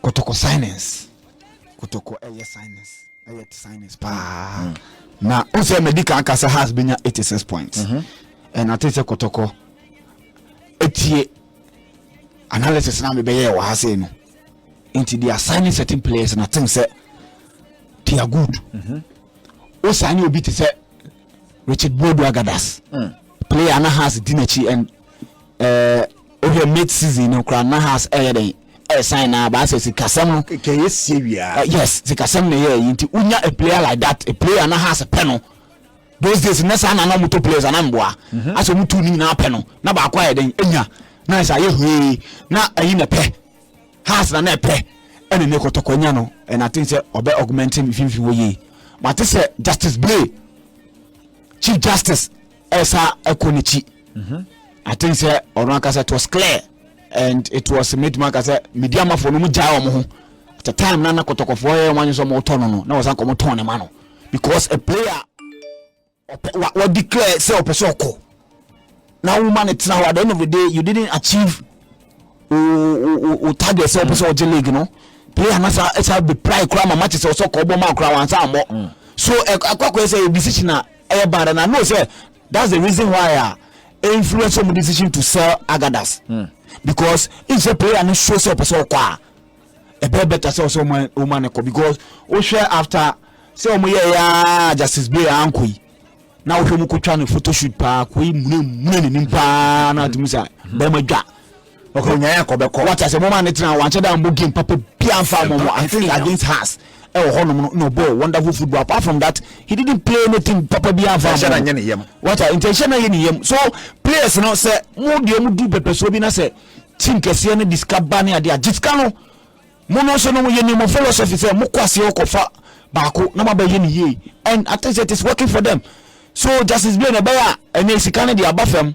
Kotoko sinus kotoko ɛyɛ sinus ɛyɛ sinus paa mm. na o sɛ mɛ di kan ka sɛ heart bɛ nya eighty six point mhm. ɛna te sɛ kotoko etie analysis na mi bɛ yɛ wɔ ha sɛ no nti they are signing certain players na think sɛ they are good mhm. o saa ni obi te sɛ richard bodu agadas mm. player na heart di n'akyi and. Ɛɛ wohwɛ mid season no koraa na Hearts ɛyɛ dɛn ɛresan na baasɛ sikasɛm no. Kɛkɛ yɛ sie wia. Uh, yes sikasɛm na ɛyɛ yi nti wonya a player like that a player na Hearts pɛ no those days na saa na na wɔtɔ players anaa mboa mhm. asɛ wɔn tu ne nyinaa pɛ no na baako ayɛ dɛn enya na ɛsɛ ayɛ hwee na ɛyi na pɛ Hearts na na ɛpɛ ɛna ne kɔtɔkɔ nya no ɛna ati sɛ ɔbɛ augmenting mfimfini wɔ yie mate sɛ Justice Blay Chief Justice. ɛsa ɛkɔ n'akyi mhm. i think sɛ ɔno ankasa it was clear and it was mɛtumi aka sɛ media amafoɔ no mu gyae wɔn ho at the time na na kɔtɔkɔfoɔ yɛ wɔn anyesɛ wɔn tɔ no no na wɔsan kɔ wɔn tɔn ne ma no because a player wɔ declare sɛ ɔpɛ sɛ ɔkɔ na wɔn ma ne tena hɔ at the end of the day you didn't achieve o o o target sɛ ɔpɛ sɛ ɔgye league no player na sa ɛsa bɛ pry kura ma matches ɔsɔ kɔ ɔbɔ ma kura wɔn ansa amɔ so ɛkɔ akɔ yɛ sɛ a decision a. Ɛyɛ bad and I know sɛ that's the reason why a influence wɔn decision to sell Agadas hmm. because if sɛ player no show sɛ ɔpɛ sɛ ɔkɔ a ɛbɛyɛ better sɛ ɔsɛ ɔma ne kɔ because wohwɛ after sɛ wɔn yɛ ya Justice Bey anko yi na wohwɛ mu kotwa ne photoshoot paa koi mune mune ne nim paa na ati mu sa bɛrima dwa. Okay, nyae akɔ bɛkɔ. Wate ase, moma ne tena, wankyɛ da mbɔ game papa bia mfa mo mo. I think against Hearts ɛwɔ hɔ nom no, na ɔbɔɔ wonderful football. Apart from that, he didn't play anything papa bia mfa mo mo. Wate, nti ɛnhyɛ na yɛ ne yam. So, players no, sɛ mo deɛ mo du pɛpɛsoɔ bi na sɛ team kɛseɛ no de sika ba ne adeɛ a, gye sika no. Mo no nso no, yɛ ne mo philosophy sɛ mo kɔ aseɛ kɔfa baako na mo abɛyɛ ne yie. And I think it is working for them. So, Justice Blane, ɛbɛyɛ a, ɛnɛ sika no deɛ aba fam.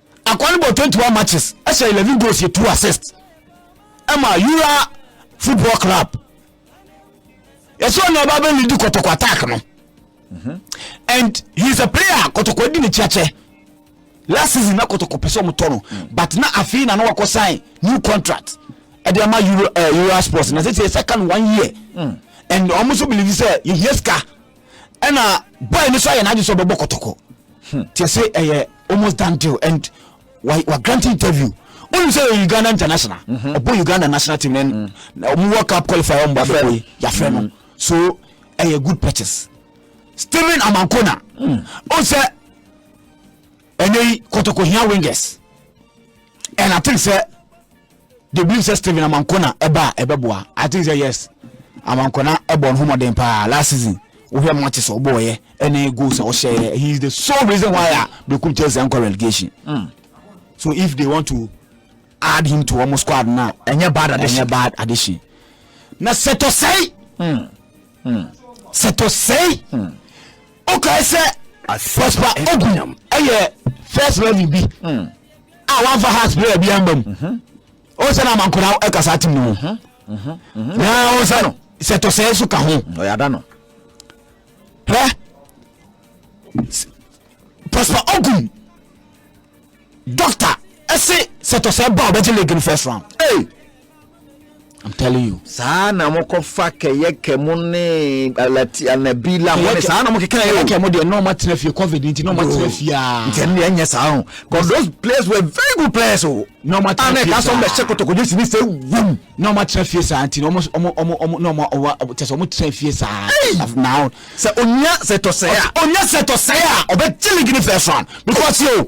Akoa no bɔɔ 21 matches hyɛ 11 goals yɛ 2 assists ɛma Yura football club yɛsɛ ɔne ɔba bɛ lead kɔtɔkɔ attack no mhm. and he is a player kɔtɔkɔ di ne kyeakyɛ last season na kɔtɔkɔ pɛ sɛ ɔmotɔ no mm. but na afei na na wakɔ sign new contract ɛde ama Euro, uh, Euro sports na sɛ sɛ yɛsɛ ka no one year mm. and ɔmo nso believe sɛ yɛhia sika ɛna boy no so ayɛ n'adwe sɛ ɔbɛbɔ kɔtɔkɔ hmm. tiɛ sɛ ɛyɛ almost done deal and wa wa grant interview wọn sɛ yɛ uganda international mhm. ɔbɔ uganda national team na mm. ɔmo world cup qualifier ɔmo ba bɛ koyi yafɛ no mm. so ɛyɛ good purchase stephen amankona mm. ɔn sɛ ɛnɛ yi kɔtɔkɔ hia wingers and i think sɛ. they believe sɛ Steven Amanko na ɛba a ɛbɛboa I think sɛ yes Amanko na ɛbɔ ne ho mmɔden paa last season wohwɛ matches a ɔbɔɔyɛ ɛne goals a ɔhyɛɛ he is the sole reason why a Berekum Chelsea ankɔ relegation mm. so if they want to add him to wɔn squad na ɛnyɛ bad addition ɛnyɛ bad addition na sɛtɔsɛe mm. mm. sɛtɔsɛe mm. ɔkae sɛ Prosper Ogu ɛyɛ first eleven bi. Mm. a wamfa heart prayer bi amba mu ɔsɛ no amankora ɛkasa atem no ho na ɔsɛ no sɛ tɔsɛɛ so ka ho ɔyɛada no hɛ pastor ogun doctor ɛse sɛ tɔsɛɛ ba ɔbɛgye league no first round hey. I'm telling you. saa na mo kɔ fa kɛyɛ kɛmo ne alati anabi la mo ne saa na mo keka yɛ o. kɛyɛ kɛmo deɛ nɔɔ ma tena fie covid nti nɔɔ ma tena fie aa. nti ɛnu yɛn nyɛ saa o cause those players were very good players o. nɔɔ ma tena fie saa. ana ɛka sɔn bɛ hyɛ kɔtɔkɔjɛ si ni sɛ wum. nɔɔ ma tena fie saa nti ɔmo ɔmo ɔmo ɔmo nɔɔ ma ɔwa tɛsɛ ɔmo tena fie saa. naa o. sɛ onya sɛ tɔsɛ a. onya sɛ tɔsɛ a ɔbɛ jeli gini fɛ sɔn because yo.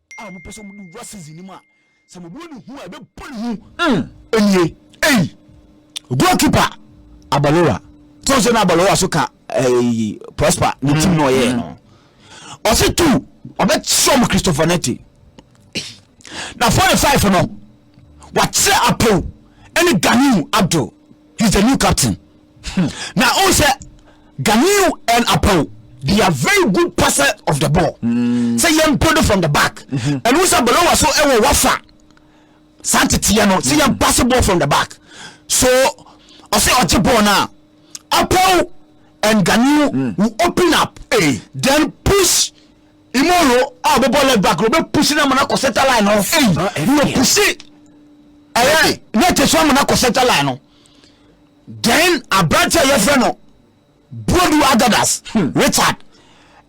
a wɔpɛ sɛ wɔde wura season no mu a sɛ wɔbɔ ne hu a ɛbɛbɔ ne hu mm. nie ei goalkeeper abalowa sɛ ɔsɛ na abalowa so ka eh, prosper ne tim na ɔyɛɛ no ɔse tu ɔbɛkyerɛ mu christopher nete na 45 no wakyerɛ apow ɛne ganiu abdul he's the new captain Hmm. na o sɛ Ganiyu and Apaw they are very good passer of the ball hmm. sɛ yɛn build from the back hmm. ɛnu sɛ balowa so ɛwɔ wafa saa teteɛ no sɛ yɛn pass ball from the back so ɔsɛ ɔgye ball na Apaw and Ganiyu mm. will open up hey. then push imoro a ah, ɔbɛbɔ left back ɔbɛ push na mana kɔ center line no hey. ɔbɛ push ɛyɛ ne te so amana kɔ center line no. Then aberante a yɛfrɛ no Boadu Agadas hmm. Richard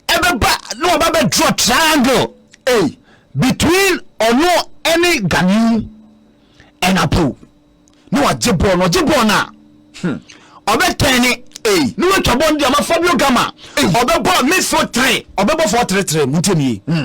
ɛbɛba na ɔba bɛ draw triangle hey. between ɔno ɛne Ganiu and Apo na wagye bɔɔl na ɔgye bɔɔl na hmm. ɔbɛtɛn ne hey. ne watwa bɔɔl no deɛ ɔma Fabio Gama ɔbɛbɔ midfield three ɔbɛbɔ four three three mu ntɛmie. Hmm.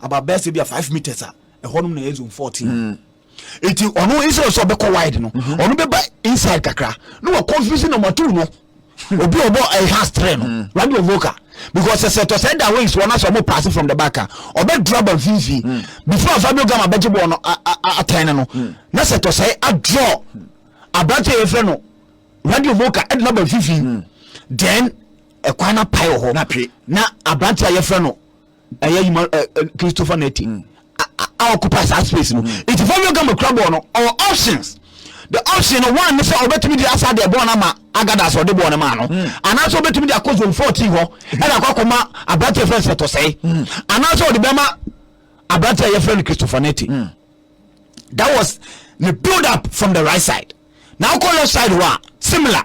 about bɛyɛ sɛ bi a five meters a ɛhɔnom na ɛyɛ zone fourteen hmm. nti ɔno instead of sɛ ɔbɛkɔ wide no mhm. ɔno bɛba inside kakra na wɔ confuse number two no hmm. obi ɔbɔ ɛyɛ eh, has three no hmm. radio vocal because sɛ tɔ sɛ da wings wɔn asɔ ɔmo pass from the back a ɔbɛ dura ba mfinfin before Fabio Gama bɛgye bɔɔl no atɛn no na sɛ tɔ sɛ adraw aberante yɛ fɛ no radio vocal ɛde na ba mfinfin then ɛkwan na pae wɔ hɔ na aberante a yɛfrɛ no ɛyɛ yuma ɛ eh, eh, christopher neti mm. a occupy saa space no mm. nti fabio gama kura bɔɔl no ɔwɔ options the option no one ne sɛ ɔbɛtumi de asa deɛ bɔɔl no ama agadas ɔde bɔɔl no maa no mm. anaasɛ ɔbɛtumi de akɔ zone fourteen hɔ ɛna akɔ akɔma aberanteɛ fɛn sɛ tɔsɛe anaasɛ ɔde bɛma aberanteɛ a yɛfrɛ no christopher neti that was the build up from the right side na akɔ left side hɔ a similar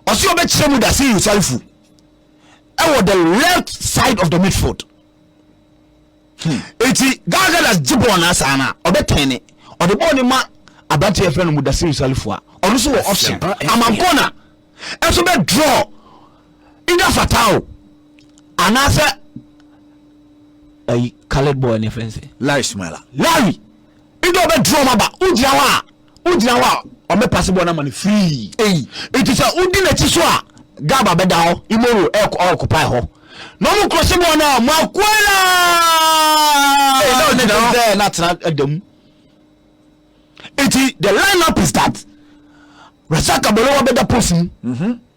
ɔsɛ ɔbɛkyerɛ mu dase yusarifu ɛwɔ the left side of the midfield hmm. eti gagadas gye bɔɔl naa saa na ɔbɛ tɛn ne ɔde bɔɔl ne ma aberante yɛfrɛ no mudasiri salifo a ɔno nso wɔ option amankona ɛso bɛ draw either fatao anaasɛ ɛyi coloured boy ne fɛn se larry smile larry either ɔbɛ draw ma ba wogyina hɔ a wogyina hɔ a ɔmɛpase bɔɔ no ama no firii nti sɛ wodi n'akyi so a gaba bɛda hɔ imoro ɔɔkopae hɔ na ɔmo kɔse bɔɔ no a mo akoe la ne dɛ na atena adamu nti the line up is that Rasaka Bolowa bɛda post mu mhm.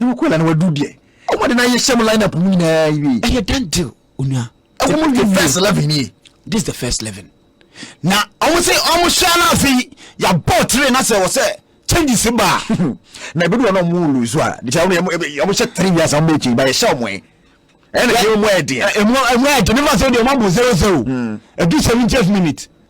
na wakɔ la na wadu deɛ ɔmo de n'ayɛ hyɛ mu line up mu nyinaa wie. ɛyɛ done deal onua. ɛwɔ mu wie first eleven nie. this is the first eleven na ɔmo sɛ ɔmo hyɛ na afei yabɔ tire na sɛ ɔsɛ changes ba na ebi wɔ na ɔmo wulu so a de sɛ ɔmo hyɛ tire wia sɛ ɔmo ekyi ba yɛ hyɛ ɔmo yɛ ɛna ɛyɛ ɔmo ɛdeɛ. ɛmu ɛmu ɛdeɛ ne ma sɛ ɔmo abɔ zero zero ɛdu seventy eight minute.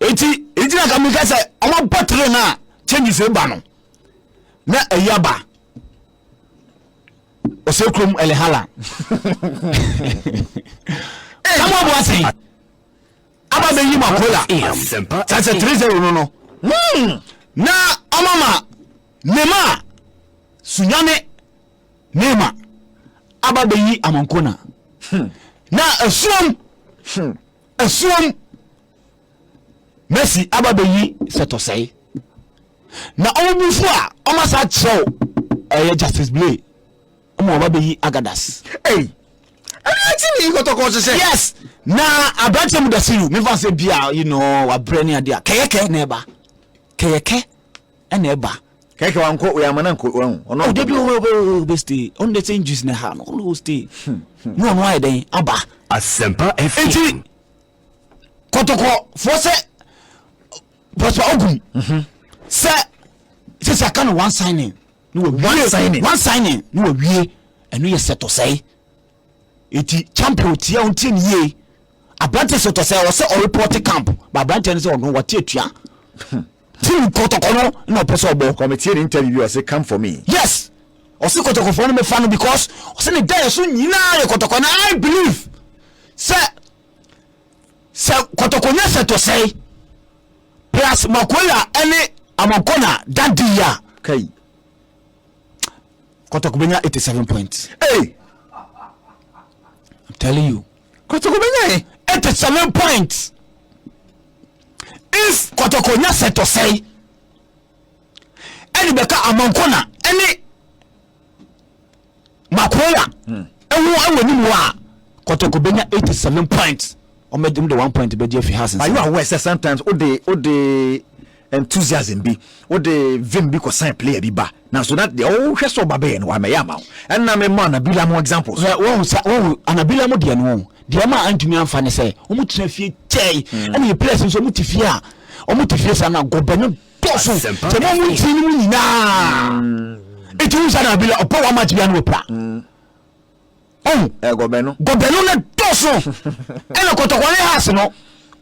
eti eti na kàmi kà sɛ ɔmo abɔ tire na changes eba no na ɛyi aba ɔsɛ kurom ɛlihala kàmi ɔbɔ ase yi aba bɛ yi ma kola sase three zero no no hmm. na ɔmo ma nema sunyane nema aba bɛ yi amankona hmm. na esuom esuom. Mercy aba bɛyi sɛtɔsɛe na wɔn bufo a wɔn asa kyerɛw ɛyɛ Justice Blay wɔn aba bɛyi Agadas. Ɛyi ɛni ati ni kɔtɔkɔ hyehyɛ. Yes na aberanteɛ mu dasi yu mefa sɛ bia you know wabrɛ ne adeɛ a kɛyɛkɛ na ɛba kɛyɛkɛ ɛna ɛba. Kɛkɛ wa nkɔ wɔyɛ amana nkɔ wɔn ho. Ɔno ɔde bi ɔbɛ ɔbɛ ɔbɛ stay ɔno de sɛn juice na ha no ɔno ɔstay na ɔno ayɛ dɛn aba. Asempa FM. Eti. kɔtɔkɔfoɔ sɛ pɔspa ogun mhm. sɛ sisi aka no one signing ne wa wie one signing one signing ne wa wie ɛno yɛ sɛ tɔsɛe eti champion tia ɔn tie ne yie aberante sɛ tɔsɛe ɔsɛ ɔrepɔte camp ba aberante no sɛ ɔno wate atua hmm. team kɔtɔkɔ no na ɔpɛ sɛ ɔbɔ kɔmitie ne interview ɔsɛ come for me yes ɔsɛ kɔtɔkɔfoɔ no mɛfa no because ɔsɛ ne dayɛ so nyinaa yɛ kɔtɔkɔ na i believe sɛ sɛ kɔtɔkɔ nya sɛ tɔ sɛe plus makola ɛne amankona da di ya kai kɔtɔkɔ bɛnya 87 points hey. I'm telling you kɔtɔkɔ bɛnya ɛ 87 points if kɔtɔkɔ nya sɛ tɔ sɛe ɛne bɛka amankona ɛne makoya hmm. ɛho ɛwɔ ne mu a kɔtɔkɔ bɛnya 87 points ɔmɛde de one point bɛgye afi ha sensɛn. ayi awɔ ɛsɛ sometimes o de o de enthusiasm bi o de vim bi kɔ sign player bi ba na so that deɛ ɔhwɛ sɛ ɔba bɛyɛ no wa mɛyɛ ama o ɛnna mi mɔ anabila mu examples. ɛ wɔn sa wɔn anabila mu deɛ no wɔn deɛ ɔmo a antumi anfa ne sɛ wɔn tena fie kyɛɛ ɛna yɛ players nso wɔn ti fie a. wɔn te fie saa na gɔbɛ no dɔɔso sɛ wɔn mu ti no mu nyinaa mm. eti wusa na abila ɔpɔ wɔn amakyi bi ano epira mm. ɔn eh, gɔbɛ no gɔbɛ no na dɔɔso ɛna kɔtɔkɔ ne haase no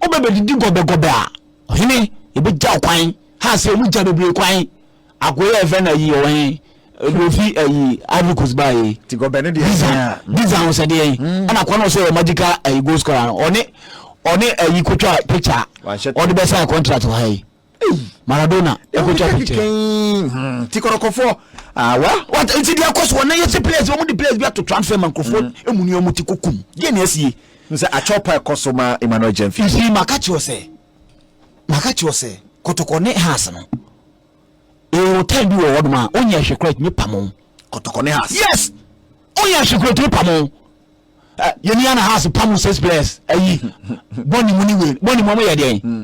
ɔbɛ bɛ didi gɔbɛ gɔbɛ a ɔhene ebe gya ɔkwan haase ɔmu gya bebree kwan. Akoy a yɛfrɛ no ayi ɔwɔ he? Ɛde ofi ayi Ivory Coast baa yei. Ti gɔbɛ no deɛ Dizan ɛyɛ a. Dizan ɔsɛ deɛ he? Ɛna akoa no ɔsɛ yɛ magical ayi goal scorer no. Ɔne ɔne ayi kotwa picture Wanhyɛ a ɔde bɛ sign contract wɔ ha yi. Maradona Deɛ wode ɛkotwa ka picture. keka yi hmm, ti kɔrɔkɔfoɔ ah, well What nti deɛ ɛkɔ so wɔ na yɛsi players wɔn de players bi ato transfer ma nkurɔfoɔ emu ni wɔn ti kɔ kum deɛ na ɛsi yɛ. N sɛ akyɔpa ɛkɔ so ma Emmanuel Gyamfi. Nti maka kyerɛ wo sɛ. Maka kyerɛ sɛ kɔtɔkɔ ne has no ɛwɔ time bi wɔ hɔ nom a onyɛ ahwɛ kora ɛtumi pamo. Kɔtɔkɔ ne has. Yes onyɛ ahwɛ kora ɛtumi pamo. Eh, yɛni ana has pamo six players ayi bɔne mu ne wei bɔne mu ɔmo yɛ deɛn hmm.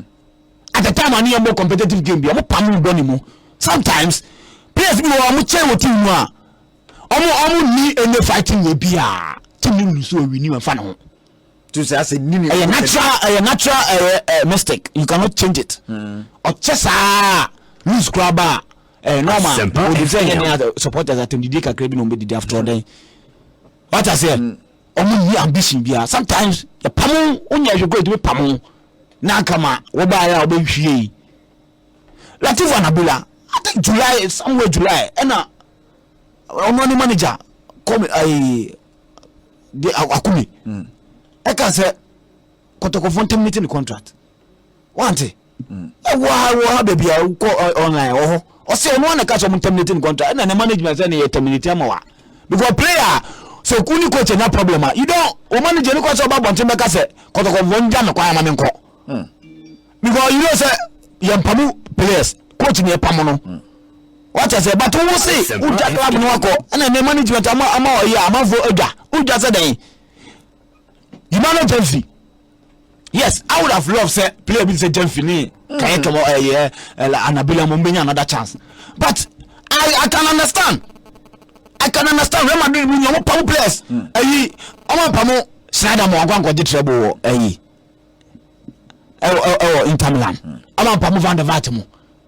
at the time ane yɛmmɔ competitive game bi ɔmo pamo bɔne mu sometimes players bi wɔ ɔmo kyɛn wɔ team mu a ɔmo ɔmo ni ɛnyɛ fighting wɔ bi a team ne lusu ɔwi ni wɔmfa ne ho to sɛ asɛ nini ɛyɛ natural ɛyɛ natural ɛyɛ ɛ mistake you cannot change it hmm. ɔkyɛ saa lose kura ba ɛ normal odi sɛ yɛ ne supporters atɛmdidie kakra bi na ɔmo bɛ didi after ɔdɛn wata sɛ hmm. ɔmo nyi ambition bia sometimes yɛ pamu onyɛ ɛhwɛ kura edimi pamu n'anka ma wɔba ayɛ a wɔbɛ nhwie yi latif anabula i think july somewhere july ɛna ɔmo ne manager kɔmi ɛɛ. de akumi mm. ɛka sɛ kɔtɔkɔfoɔ ntɛm ne te ne contract wante mm. ɛwɔ ha wɔ ha baabi a wokɔ online wɔ hɔ ɔsɛ ɔno ana ka sɛ ɔmo ntɛm ne te ne contract ɛna ne management sɛ ne yɛ terminate ama wa because player sɛ ku ne coach nya problem a you don o manager ne kɔ sɛ ɔba abɔnten bɛka sɛ kɔtɔkɔfoɔ ngya me kwan ama me nkɔ mm. because you know sɛ yɛmpamu players coach ne ɛpam no hmm. wata sɛ but wo se wogya club no akɔ ɛna ne management ama ama ɔyɛ amanfo adwa wogya sɛ dɛn yima no gyamfi yes i would have loved sɛ player bi sɛ gyamfi ne hmm. kanyɛ kɛmɔ ɛyɛ anabila mo mbɛnya another chance but i i can understand i can understand real madrid mu ni ɔmo pamu players ɛyi hmm. ɔmo pamu sinadamo akɔ akɔgye trɛbo wɔ ɛyi. ɛwɔ Inter Milan ama mpamu Van der Vaart mu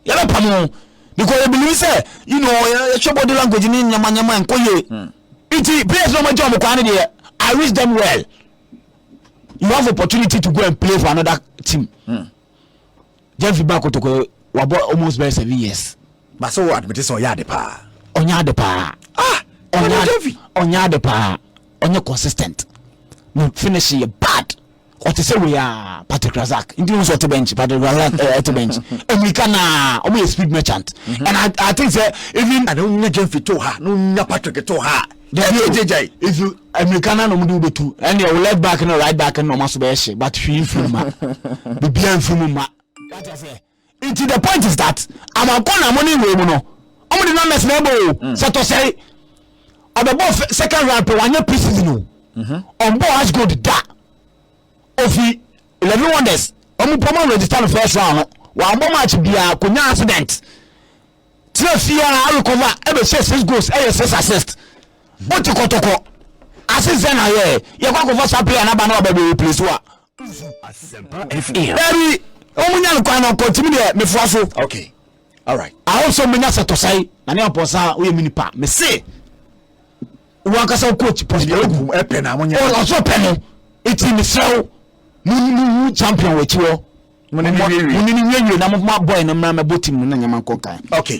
yɛbɛ pamu because yɛ believe sɛ you know yɛhwɛ body language ne nneɛma nneɛma nkɔ yie hmm. nti players na wɔn gya wɔn kwan ne deɛ I wish them well you have opportunity to go and play for another team. Mm. Jemfi ba kotoko wabɔ almost bɛyɛ seven years. Ba so wɔ admit sɛ ɔyɛ ade paa. Ɔnyɛ ade paa. Ah, ɔnyɛ Jemfi. Ɔnyɛ ade paa. Ɔnyɛ consistent. Ne finish yɛ bad. Ɔte sɛ wei a Patrick Razak. Nti wɔn sɛ ɔte bench. Patrick Razak ɛɛ ɛte bench. Emirika naa wɔn yɛ speed merchant. And I I think sɛ even. Na nya Jemfi to ha, na nya Patrick to ha. dɛbi o gyegyae if you amerika na nom de wobɛtu ɛne ɛwo left back no right back no ɔma so bɛyɛ hye but hwee mfiri ma bibia mfiri mu ma nti the point is that amankɔ na mo ne wei mu no ɔmo de numbers na ɛbɔ o mm. sɛ tɔsɛe ɔbɛbɔ second round pɛ wanyɛ pre season o mhm. ɔmbɔ as good da ofi eleven wonders ɔmo pɔmɔ register no first round no wɔn abɔ match biara kò nya accident. Tire fie a arekɔva ɛbɛhyɛ six goals ɛyɛ six assist o ti kɔtɔkɔ ase sɛ na yɛ yɛkɔ akɔfa saa player n'aba na waba bɛ replace wa. Ɛbi wɔn nya no kwan no kɔ ntumi deɛ mefoa so. Okay. All right. I hope so menya sɛ tɔsae na ne apɔsa woyɛ mi nipa me se wankasa wo coach pɔsibia ogu ɛpɛ na mo nya ɔsɔ pɛ no eti mesrɛ wo mu mu champion wɔ akyi wɔ. mo ne no wiewie na mo ma bɔe no mmra mmɛbɔ tim no na nyɛma nkɔ nkan okay